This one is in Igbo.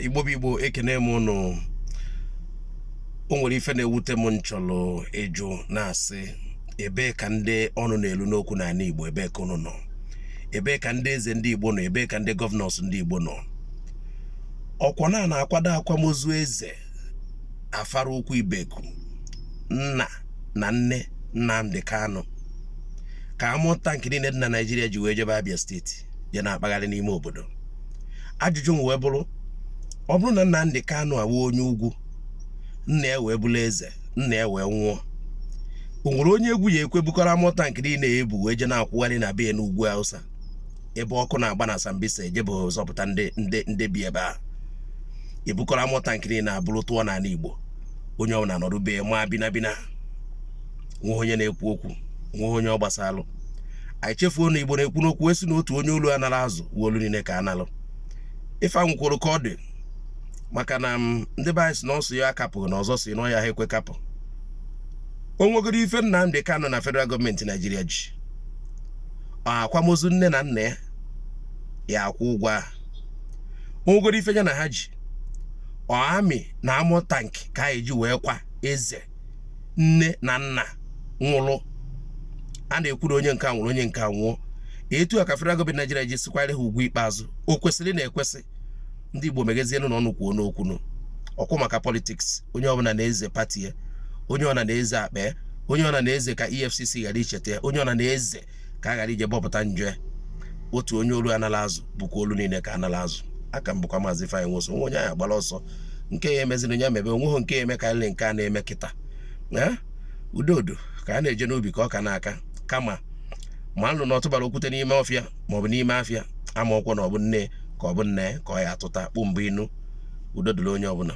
igbo bụ igbo ekene m ụnụ o nwere ife na-ewute m nchọlụ ịjụ na-asị ebee ka ndị ọnụ na-elu n'okwu n'anị igbo ebee ka ụnụ nọ ebee ka ndị eze ndị igbo nọ ebee ka ndị gọvanọs ndị igbo nọ ọkwọ na a na-akwado akwamozu eze afara ukwu ibeku nna na nne Nnamdi Kanu ka amụ tankị niile dị na Naịjirịa ji wee jebe Abia steeti je na-akpagharị n'ime obodo ajụjụ m wee bụrụ ọ bụrụ na Nnamdi Kanu a wụ onye ugwu nna ya wee bụrụ eze nna ya wee nwụọ o nwere onye egwu ya ekwe bukọrọ amụ tankị niile ya ebu wee je na-akwụgharị na be n'ugwu Hausa ebe ọkụ na-agba na Sambisa ejebe zọpụta ndị ndị ndị bi ebe a e bukọrọ amụ tankị niile a buru tụọ n'ala Igbo onye ọbụla nọdụ be ma bina bina nwe onye na-ekwu okwu nwe onye ọ gbasalụ anyị chefuo na igbo na-ekwu n'okwu sị na otu onye olu a nara azụ wụ olu niile ka a nalụ ife anwụ kwuru ka ọ dị maka na mm, ndị be anyị sị na ọsụ ya akapụghị na ọzọ si n'ọya ha ekwe kapụ o nwegoro ife Nnamdi Kanu na federal gọọmenti Naijiria ji ọ akwamozu nne na nna ya ya akwụ ụgwọ a o nwegoro ife ya na ha ji ọ amị na amụ tank ka anyị ji wee kwa eze nne na nna nwụrụ a na-ekwu na onye nke a nwụrụ onye nke a nwụọ etu a ka federal gọọmenti Naijiria ji si kwaara ha ugwu ikpeazụ o kwesịrị na ekwesị ndị Igbo meghezienụnụ ọnụ kwuonụ okwu nụ ọkwọ maka politiks onye ọbụla na-eze pati ya onye ọna na-eze akpa ya onye ọna na-eze ka EFCC ghara icheta ya onye ọna na-eze ka a ghara ije bọpụta njọ ya otu onye olu a nala azụ bụkwa olu niile ka a nala azụ aka m bụkwa maazị Ifeanyị Nwosu o nwe onye anyị agbara ọsọ nke ya emeziri onye mebe o nweghị nke ya eme ka nke a na-eme kịta eh? udo udo ka a na-eje n'ubi ka ọka na-aka kama manụ na ọ tụbara okwute n'ime ọfịa maọbụ n'ime afịa amarọkwọ na ọ bụ nne ka ọ bụ nna ka ọ ya atụta kpụm bụ inu udo dịrị onye ọbụla